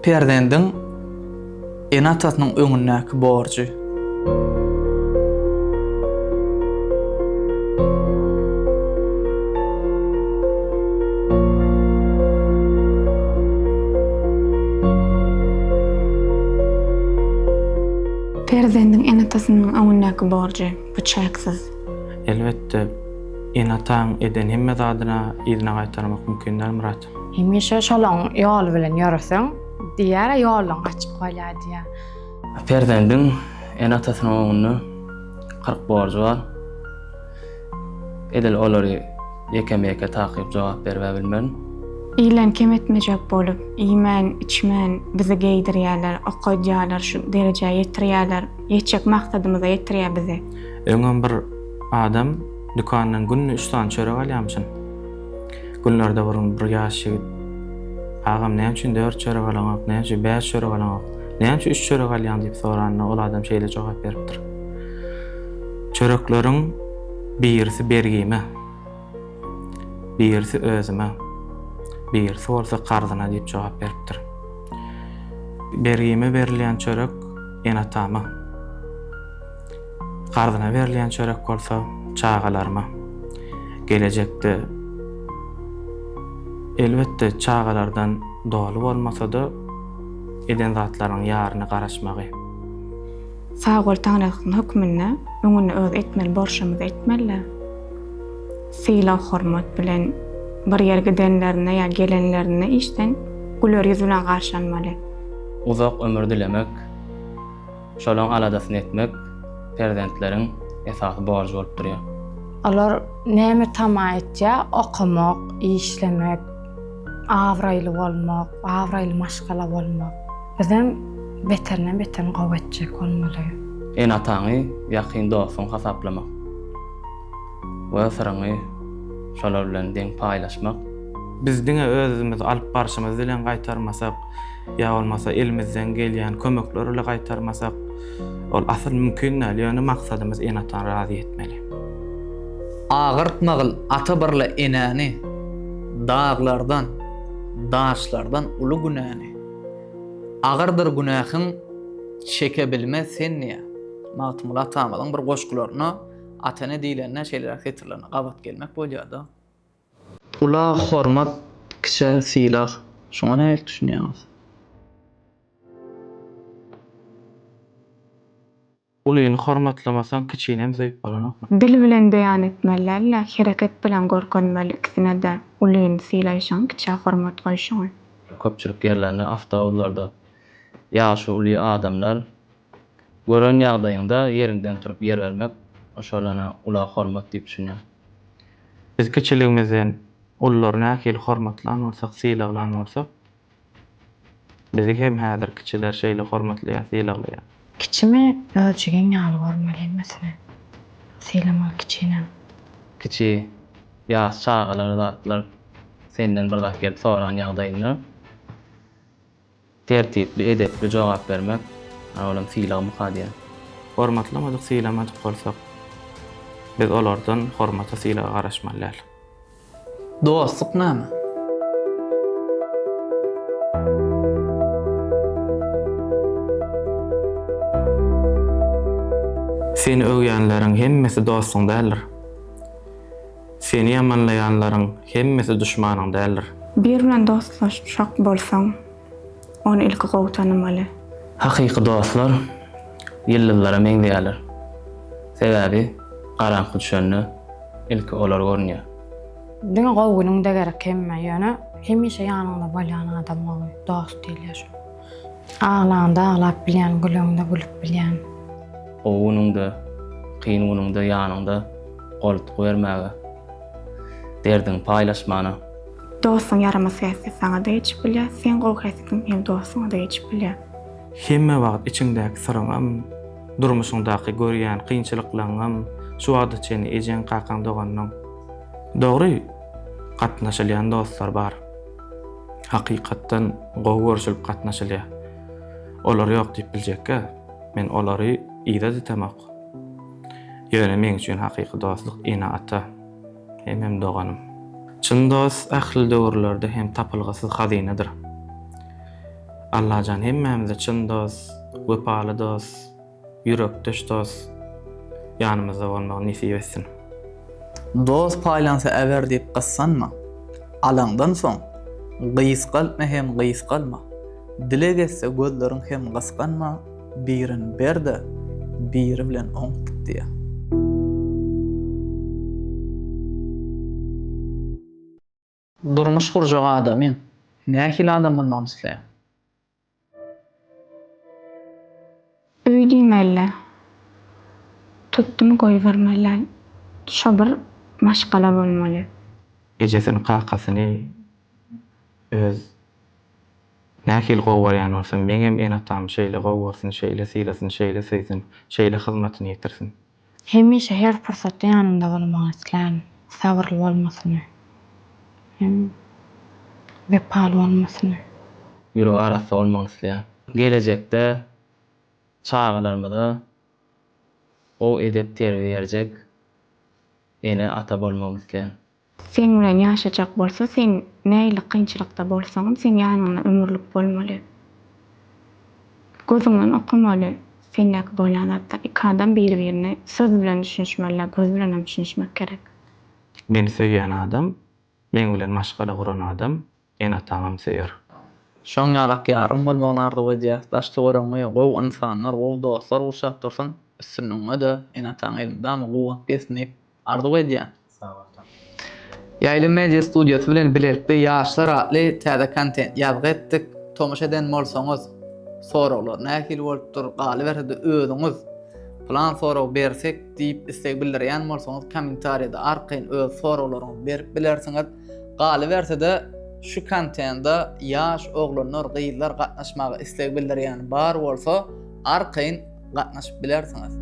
Perzendiň ene-atasynyň öňündäki borjy. Perzendiň ene-atasynyň öňündäki borjy. Bu çäksiz. Elbetde, ene-ataň eden hemme zadyna yzyna gaýtarmak mümkin däl, Myrat. Hemişe şolaň ýoly bilen ýöreseň, diýýär-ä, ýoluň açyk bolýar diýýär. Perzendiň ene-atasynyň öňünde kyrk borjy bar. Edil olary ýekeme-ýeke takyp jogap berib-ä bilmerin. Ilen kem etmejek bolup, iýmän, içmän bizi geýdirýärler, okaýdýarlar, şu derejä ýetirýärler. Ýetjek maksadymyza ýetirýär bizi. Öňem bir adam dükandan günde üç sany çörek alýamyşyn. Günlerde bir gün bir ýaş ýigit, Agam, näme üçin dört çörek alaňok, näme üçin bäş çörek alaňok, näme üçin üç çörek alýaň diýip soranda, ol adam şeýle jogap beripdir, Çörekleriň birisi bergime. Birisi özüme, birisi bolsa karzyna diýip jogap beripdir. Bergime berilýän çörek ene-atama, karzyna berilýän çörek bolsa çagalaryma. Gelejekde, elbetde, çagalardan doly bolmasa-da, eden zatlarynyň ýaryny garaşmagy. Sag bol taňryýalkasyn hökmünde öňüni öz etmeli borşumyzy etmelidä. Sylag hormat bilen bir ýere gidenlerinde ýa gelenlerinde işden güler ýüz bilen garşy almaly. Uzak ömür dilemek, şolaň aladasyny etmek perzentleriň esasy borjy bolup durýar. Olar näme tama etýär, okamak, işlemek. Abraýly bolmak, abraýly maşgala bolmak bizem beterinden-beterini gowy etjek bolmaly. Ene-ataňy ýakyn dostuň hasaplamak we syryňy şolar bilen deň paýlaşmak. Biz diňe özümiz alyp barşymyz bilen gaýtarmasak, ýa bolmasa elimizden gelýän kömekler ile gaýtarmasak, Ol asyl mümkin däl, ýöne maksadymyz ene-atany razy etmeli. Agyrtmagyl ata birle enäni, daglardan, daşlardan uly günäni. Agyrdyr günähiň, çeke bilmez sen niýe? Magtymguly atamyzyň bir goşgularynda ata-ene diýlende şeýleräk setirlerine gabat gelmek bolýar-da. Ula hormat, kiçä sylag. Şuňa nähili düşünýäňiz? Ulyny hormatlamasaň kiçinem söýüp bolanokmy? Dil bilen beýan etmeli däl-de, hereket bilen görkezmeli ikisine-de, ulyny sylaýşyňy, kiçä hormat goýşyňy. Köpçülik ýerlerinde, awtobuslarda ýaşy uly adamlar. Gören ýagdaýyňda ýeriňden turup ýer bermek oşalana ula hormat diýip düşünýän. Biz kiçiligimizden ullary nähili hormatlan bolsak, sylaglan bolsak, bizi hem häzir kiçiler şeýle hormatlaýar, sylaglaýar. Kiçimi öz jigiň ýaly görmeli, hemmesini sylamaly kiçinem. Kiçi, ýaş çagalar zatlar senden bir zat gelip soran ýagdaýynda. Tertipli, edepli jogap bermek, a olam sylag myka diýen. Hormatlamadyk, sylamadyk bolsak, biz olardan hormata, sylaga garaşmaly däl. Dostluk name? Seni öwýänleriň hemmesi dostuň däldir. Seni ýamanlaýanlaryň hemmesi duşmanyň däldir. Bir bilen dostlaşjak bolsaň, ony ilki gowy tanamaly. Hakyky dostlar ýyldyzlara meňzeýärler. Sebäbi garaňky düşende ilki olar görünýär. Diňe gowy günüňde gerek hemmä, ýöne hemişe ýanyňda bolýan adam gowy dost diýilýär şoňa. Aglanda aglap bilýän, gülende gülüp bilýän. Gowy günüňde, kyn günüňde ýanyňda, goltgy bermäge, derdiňi paýlaşmana. Dostuň ýaramaz häsiýet saňa-da geçip bilýär, seň gowy häsiýetiň hem dostuňa-da geçip bilýär. Hemme wagt içiňdäki syryňam, durmuşyňdaky görýän kynçylyklaňňam şu wagta çenli ejeň, kakaň, doganyň. Dogry, gatnaşylýan dostlar bar. hakykatdan gowy görşülip gatnaşylýar. Olar ýok diýip biljekkä, men olary yza ditemok. Ýöne meň üçin hakyky dostluk ene-ata, hemem doganym. Çyn dost ähli döwürlerde hem tapylgysyz hazynadyr. Allajan hemmämize çyn dost, wepaly dost, Ýürekdeş dos ýanymyzda bolmagy nesip etsin. Dos paýlansa äber diýip gyssanma, Alaňdan soň gysgaltma hem gysgalma, Dileg etse gözleriň hem gysganma, Birin ber-de, biri bilen oňup git diýýär. Durmuş gurjak adamy nähili adam bolmagyny isleýäň? Öý diýmeli-dä. Tutdum goýbermeli-dä. Şo bir maşgala bolmaly. Ejesini, kakasyny öz nähili gowy görýän bolsa, meňem ene-atam şeýle gowy görsün, şeýle sylasyn, şeýle söýsün, şeýle hyzmatyny ýetirsin. Hemişe her pursatda ýanymda bolmagyny islän, sabyrly bolmasyny hem wepaly bolmasyny. Ýüregi arassa bolmagyny islän. Gelejekde çagalarymyza gowy edep-terbiýe berjek ene-ata bolmagyny islän. Seň bilen ýaşajak bolsa, seň nähili kynçylykda bolsaňam, seň ýanyňda ömürlik bolmaly. Gözüňden okamaly sendäki bolýan zatlar. Iki adam bir-birine söz bilen düşünişmeli-de, göz bilenem düşünişmek gerek. Meni söýýän adam, meň bilen maşgala guran adam, Ene-ataňam söýer. Şoň ýalak ýaryň bolmagyny arzuw edýäs. Daş-töweregiňi gowy ynsanlar, gowy dostlar gurşap dursun. Üstünligiňe-de, ene-ataň elmydama guwwat bersin diýip, arzuw edýän. Ýaýly media studiýasy bilen bilelikde Ýaşlar atly täze kontent ýazgy etdik. Tomaşa eden bolsaňyz, soraglar nähili bolupdyr, galyberse-de özüňiz plan sorag bersek diýip isleg bildirýän bolsaňyz, kommentariýada arkaýyn öz soraglaryňyzy berip bilersiňiz. Galyberse-de, şu kontenta ýaş oglanlar, gyzlar gatnaşmaga isleg bildirýän bar bolsa, arkaýyn gatnaşyp bilersiňiz.